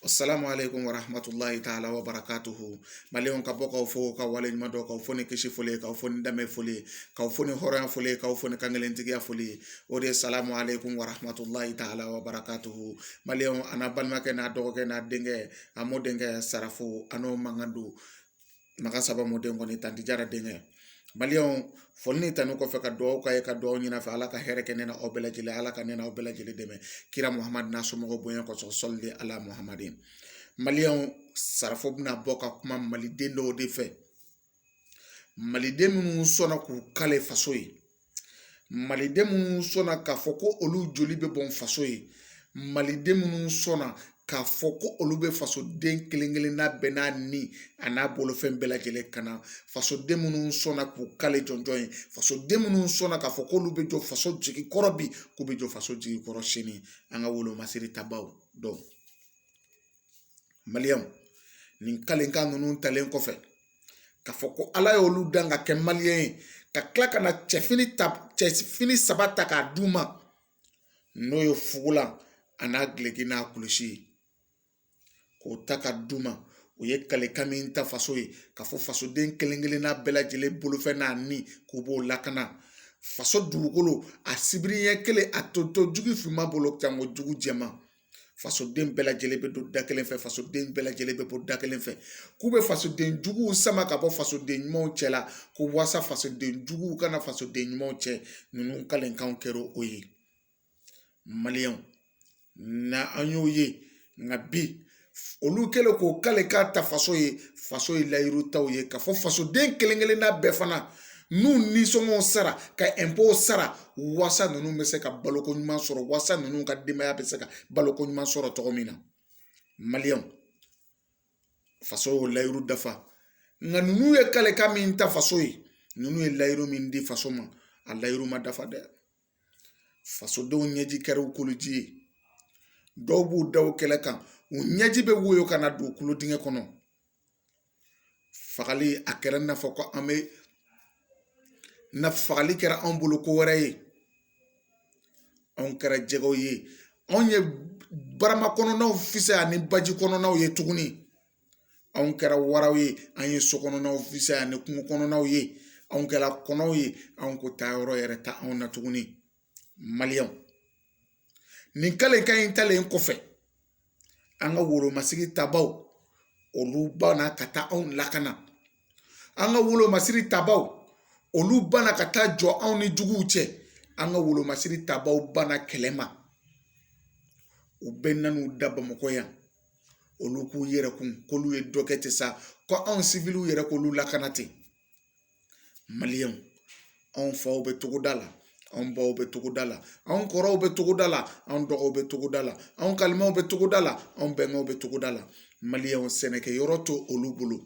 Salamu aleykum warahmatulahi taala wa barakatuhu maliyɛnw ka bɔ k'aw fo ka wale ɲuman dɔn k'aw fo ni kisi foli k'aw fo ni danbe foli k'aw fo ni hɔrɔnya foli k'aw fo ni kankelentigiya foli o de ye salamu aleykum warahmatulahi taala wa barakatuhu maliyɛnw a n'a balimakɛ n'a dɔgɔkɛ n'a denkɛ a mɔdenkɛ sarafo a n'o mankan don Maka saba mɔden kɔni tanti jara denkɛ maliyɛnw foli ni tanu kɔfɛ ka dugawu k'aw ye ka dugawu ɲini aw fɛ ala ka hɛrɛ kɛ ne n'aw bɛɛ lajɛlen ala ka ne n'aw bɛɛ lajɛlen dɛmɛ kira muhamadu n'a somɔgɔw bonya kosɔn sɔli ala muhamadin maliyɛnw sarafo bɛna bɔ ka kuma maliden dɔw de fɛ maliden minnu sɔnna k'u kale faso ye maliden minnu sɔnna k'a fɔ ko olu joli bɛ bɔn faso ye maliden minnu sɔnna k'a fɔ ko olu bɛ fasoden kelen kelenna bɛɛ n'a ni an'a bolofɛn bɛɛ lajɛlen kana fasoden minnu sɔnna k'u kale jɔnjɔn ye fasoden minnu sɔnna k'a fɔ k'olu bɛ jɔ faso jigi kɔrɔ bi k'u bɛ jɔ faso jigi kɔrɔ sini an ka wolo masiri tabaw don maliyɛnw nin kalekan ninnu talen kɔfɛ k'a fɔ ko ala y'olu dan ka kɛ maliyɛn ye ka tila ka na cɛfini saba ta k'a d'u ma n'o ye fugulan a n'a gileki n'a kulusi ye k'o ta ka d'u ma u ye kalekan min ta faso ye k'a fɔ fasoden kelen kelenna bɛɛ lajɛlen bolofɛn n'a ni k'u b'o lakana faso dugukolo a sibiri ɲɛ kelen a t'o to jugu finma bolo janko jugu jɛma fasoden bɛɛ lajɛlen bɛ don da kelen fɛ fasoden bɛɛ lajɛlen bɛ bɔ da kelen fɛ k'u bɛ fasoden juguw sama ka bɔ fasoden ɲumanw cɛ la ko wasa fasoden juguw kana fasoden ɲumanw cɛn ninnu kalekan kɛra o ye maliyɛnw na an y'o ye nka bi olu kɛlen k'o kalekan ta faso ye faso ye layiru ta u ye k'a fɔ fasoden kelen kelenna bɛɛ fana n'u nisɔngɔ sara ka ɛnpo sara wasa ninnu bɛ se ka baloko ɲuman sɔrɔ wasa ninnu ka denbaya bɛ se ka baloko ɲuman sɔrɔ cogo min na maliyɛnw faso y'o layiru dafa nka ninnu ye kalekan min ta faso ye ninnu ye layiru min di faso ma a layiru ma dafa dɛ fasodenw ɲɛji kɛra u kuloji ye dɔw b'u da u kɛlɛ kan u ɲɛji bɛ woyo ka na don kulo dingɛ kɔnɔ fagali a kɛra i n'a fɔ ko an bɛ na fagali kɛra anw bolo ko wɛrɛ ye anw kɛra jɛgɛw ye anw ye barama kɔnɔnaw fisaya ni baji kɔnɔnaw ye tuguni anw kɛra waraw ye an ye so kɔnɔnaw fisaya ni kungo kɔnɔnaw ye anw kɛra kɔnɔw ye anw ko taayɔrɔ yɛrɛ t'anw na tuguni maliyɛnw nin kalikan in talen kɔfɛ an ka wolomasigi tabaw olu banna ka taa anw lakana an ka wolomasiri tabaw olu banna ka taa jɔ anw ni juguw cɛ an ka wolomasiri tabaw banna kɛlɛ ma u bɛɛ nan'u da bamakɔ yan olu k'u yɛrɛ kun k'olu ye dɔ kɛ ten sa ko anw siwiliw yɛrɛ k'olu lakana ten anw faw bɛ togoda la anw baw bɛ togoda la anw kɔrɔw bɛ togoda la anw dɔgɔw bɛ togoda la anw kalimɛw bɛ togoda la anw bɛnkɛw bɛ togoda la maliyɛnw sɛnɛkɛyɔrɔ tɛ olu bolo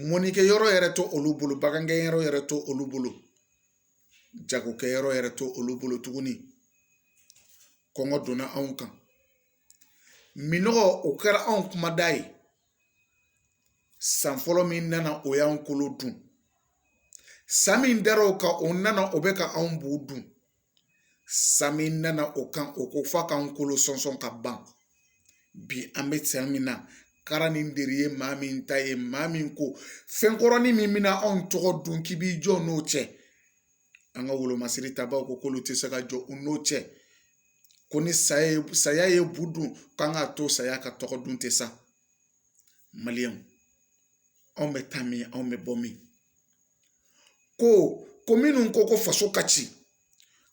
mɔnnikɛ yɔrɔ yɛrɛ tɛ olu bolo bagangɛnyɔrɔ yɛrɛ tɛ olu bolo jagokɛyɔrɔ yɛrɛ tɛ olu bolo tuguni kɔngɔ donna anw kan minnɔgɔ o kɛra anw kumada ye san fɔlɔ min nana o y'an golo dun san min dar'o kan o nana o bɛ ka anw bu dun san min nana o kan o ko f'a k'an kolo sɔnsɔn ka ban bi an bɛ san min na kara ni deri ye maa min ta ye maa min ko fɛn kɔrɔnin min bɛna anw tɔgɔ dun k'i b'i jɔ n'o cɛ an ka wolomasiri tabaaw ko k'olu tɛ se ka jɔ u n'o cɛ ko ni saya ye bu dun k'an ka to saya ka tɔgɔ dun tɛ sa maliyɛnw anw bɛ taa min anw bɛ bɔ min ko ko minnu ko ko faso ka ci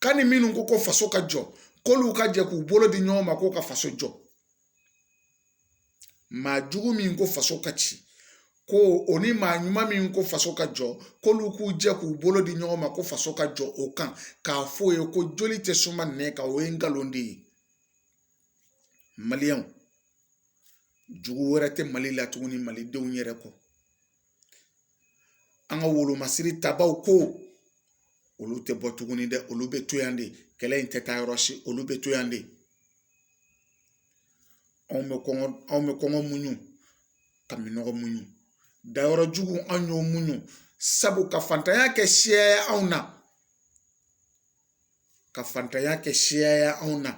ka ni minnu ko ko faso ka jɔ k'olu ka jɛ k'u bolo di ɲɔgɔn ma k'o ka faso jɔ maa jugu min ko faso ka ci ko o ni maa ɲuman min ko faso ka jɔ k'olu k'u jɛ k'u bolo di ɲɔgɔn ma ko faso ka jɔ o kan k'a fɔ o ye ko joli tɛ suma nɛn kan o ye nkalon de ye maliyɛnw jugu wɛrɛ tɛ mali la tuguni malidenw yɛrɛ kɔ an ka wolomasiri tabaw ko olu tɛ bɔ tuguni dɛ olu bɛ to yan de kɛlɛ in tɛ taa yɔrɔ si olu bɛ to yan de anw bɛ kɔngɔ muɲu ka minnɔgɔ muɲu dayɔrɔ jugu an y'o muɲu sabu ka fantanya kɛ siya ye anw na ka fantanya kɛ siya ye anw na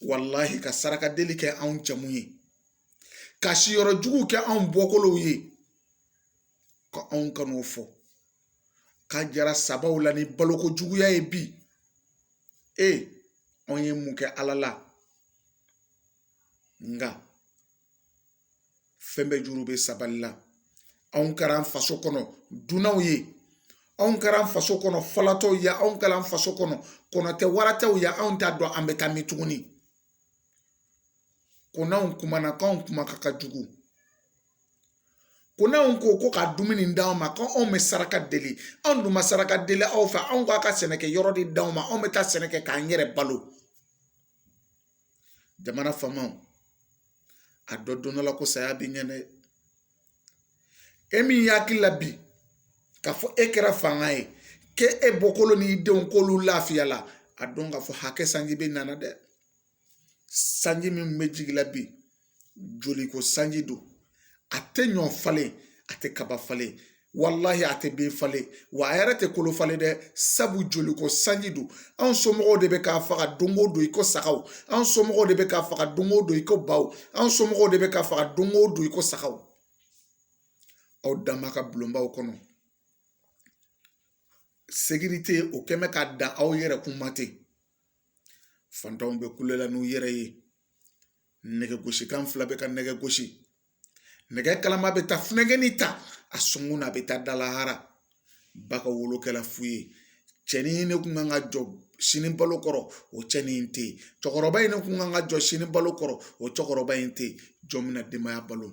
walahi ka saraka deli kɛ anw jamu ye ka siyɔrɔ jugu kɛ anw bɔkolow ye ka anw kan'o fɔ ka jara sabaw la ni baloko juguya ye bi e anw ye mun kɛ ala la nka fɛn bɛɛ juru bɛ sabali la anw kɛra an faso kɔnɔ dunanw ye anw kɛra an faso kɔnɔ falatɔw ye anw kɛra an faso kɔnɔ kɔnɔtɛ waratɛw ye anw t'a dɔn an bɛ taa min tuguni ko n'anw kumana k'anw kumakan ka jugu ko n'anw ko ko ka dumuni d'anw ma ko anw bɛ saraka deli anw dun ma saraka deli aw fɛ anw k'a ka sɛnɛkɛ yɔrɔ de d'anw ma anw bɛ taa sɛnɛ kɛ k'an yɛrɛ balo jamana faamaw a dɔ don dɔ la ko saya bɛ ɲɛ dɛ e min hakili la bi k'a fɔ e kɛra fanga ye k'e e bɔkolo n'i denw k'olu lafiya la a dɔn k'a fɔ hakɛ sanji bɛna na dɛ sanji min bɛ jigin la bi joli ko sanji don a tɛ ɲɔ falen a tɛ kaba falen walahi a tɛ bin falen wa a yɛrɛ tɛ kolo falen dɛ sabu joli ko sanji don anw somɔgɔw de bɛ k'a faga don o don i ko sagaw anw somɔgɔw de bɛ k'a faga don o don i ko baw anw somɔgɔw de bɛ k'a faga don o don i ko sagaw aw dama ka bulonbaw kɔnɔ sécurité o kɛ mɛ ka dan aw yɛrɛ kun ma ten fantanw bɛ kulo la n'u yɛrɛ ye nɛgɛ gosikan fila bɛ ka nɛgɛ gosi nɛgɛ kalama bɛ taa funankɛnin ta a sɔnkun na a bɛ taa da lahara ba ka wolo kɛla fu ye cɛnin ne kun kan ka jɔ sini balo kɔrɔ o cɛnin in tɛ yen cɛkɔrɔba in ne kun kan ka jɔ sini balo kɔrɔ o cɛkɔrɔba in tɛ yen jɔn bɛna denbaya balo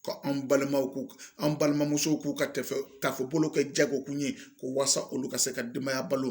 ka an balimaw k'u an balimamusow k'u ka taafe bolo kɛ jagokun ye ko walasa olu ka se ka denbaya balo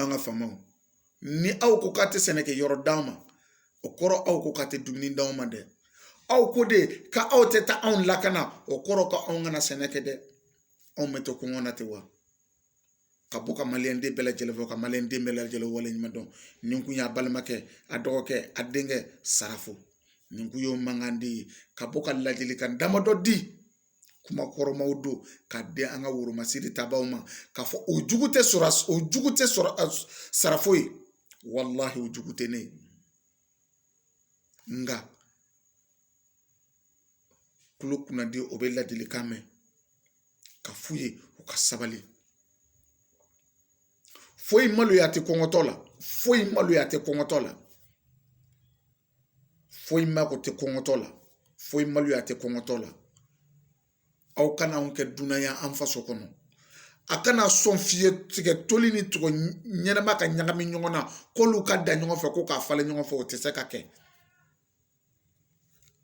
an ka faamaw ni aw ko k'a tɛ sɛnɛkɛ yɔrɔ d'an ma o kɔrɔ aw ko k'a tɛ dumuni d'anw ma dɛ aw ko de ka aw tɛ taa anw lakana o kɔrɔ ka anw kana sɛnɛ kɛ dɛ anw bɛ to kɔngɔ na ten wa ka bɔ ka maliyɛn den bɛɛ lajɛlen fo ka maliyɛn den bɛɛ lajɛlen waleɲuman dɔn nin kun y'a balimakɛ a dɔgɔkɛ a denkɛ sarafo nin kun y'o mankan de ye ka bɔ ka ladilikan damadɔ di kuma kɔrɔmaw don ka di an ka woromasiri tabaw ma k'a fɔ o jugu tɛ sɔrɔ o jugu tɛ sarafo ye walahi o jugu tɛ ne ye nka kulo kunnadi o bɛ ladilikan mɛn ka f'u ye u ka sabali foyi maloya tɛ kɔngɔtɔ la foyi maloya tɛ kɔngɔtɔ la foyi mako tɛ kɔngɔtɔ la foyi maloya tɛ kɔngɔtɔ la aw kana anw kɛ dunan ye an faso kɔnɔ a kana sɔn fiye tigɛ toli ni tigɛ ɲɛnama ka ɲagami ɲɔgɔn na k'olu ka dan ɲɔgɔn fɛ ko k'a falen ɲɔgɔn fɛ o tɛ se ka kɛ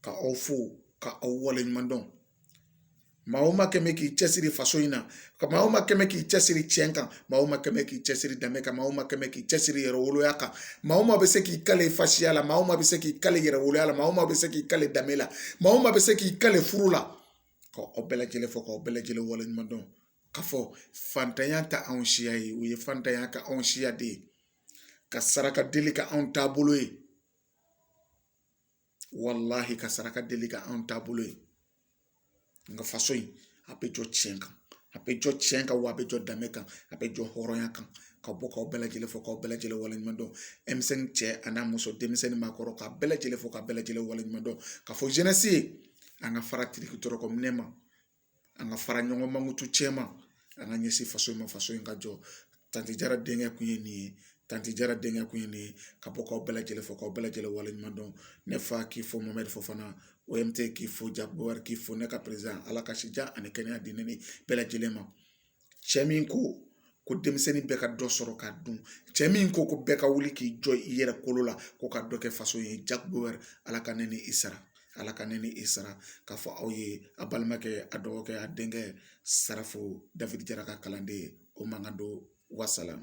ka aw fo ka aw waleɲuman dɔn Maa o maa kɛ mɛ k'i cɛsiri faso in na maa o maa kɛ mɛ k'i cɛsiri tiɲɛ kan maa o maa kɛ mɛ k'i cɛsiri danbe kan maa o maa kɛ mɛ k'i cɛsiri yɛrɛwoloya kan maa o maa bɛ se k'i kali fasiya la maa o maa bɛ se k'i kali yɛrɛwoloya la maa o maa bɛ se k'i kali danbe la maa o maa bɛ se k'i kali furu la ka aw bɛɛ lajɛlen fo k'aw bɛɛ lajɛlen waleɲuman dɔn ka fɔ fantanya tɛ anw siya ye o ye fantanya k'anw siya de ye ka saraka deli k'anw taabolo ye walahi ka saraka deli ka anw taabolo ye nka faso in a bɛ jɔ tiɲɛ kan a bɛ jɔ tiɲɛ kan wa a bɛ jɔ danbe kan a bɛ jɔ hɔrɔnya kan ka bɔ k'aw bɛɛ lajɛlen fo k'aw bɛɛ lajɛlen waleɲuman dɔn denmisɛnnin cɛ a n'a muso denmisɛnnin maakɔrɔ k'a bɛɛ lajɛlen fo k'a bɛɛ lajɛlen waleɲuman dɔn ka fɔ jeunesse ye an ka fara tiriki tɔrɔkɔ minɛ ma an ka fara ɲɔgɔn mankutu tiɲɛ ma an ka ɲɛsin faso in ma faso in ka jɔ tanti jara denkɛ kun ye nin ye tanti jara denkɛ kun ye nin ye ka bɔ k'aw bɛɛ lajɛlen fo k'aw bɛɛ lajɛlen waleɲuman dɔn ne fa k'i fo mohamed fofana omt k'i fo jack bauer k'i fo ne ka perezidan ala ka si jan ani kɛnɛya di ne ni bɛɛ lajɛlen ma cɛ min ko ko denmisɛnnin bɛɛ ka dɔ sɔrɔ k'a dun cɛ min ko ko bɛɛ ka wuli k'i jɔ i yɛrɛ kolo la ko ka dɔ kɛ faso ye jack bauer ala ka ne ni i sara ala ka ne ni i sara k'a fɔ aw ye a balimakɛ a dɔgɔkɛ a denkɛ sarafo david jara ka kalanden ye o mankan don wasalam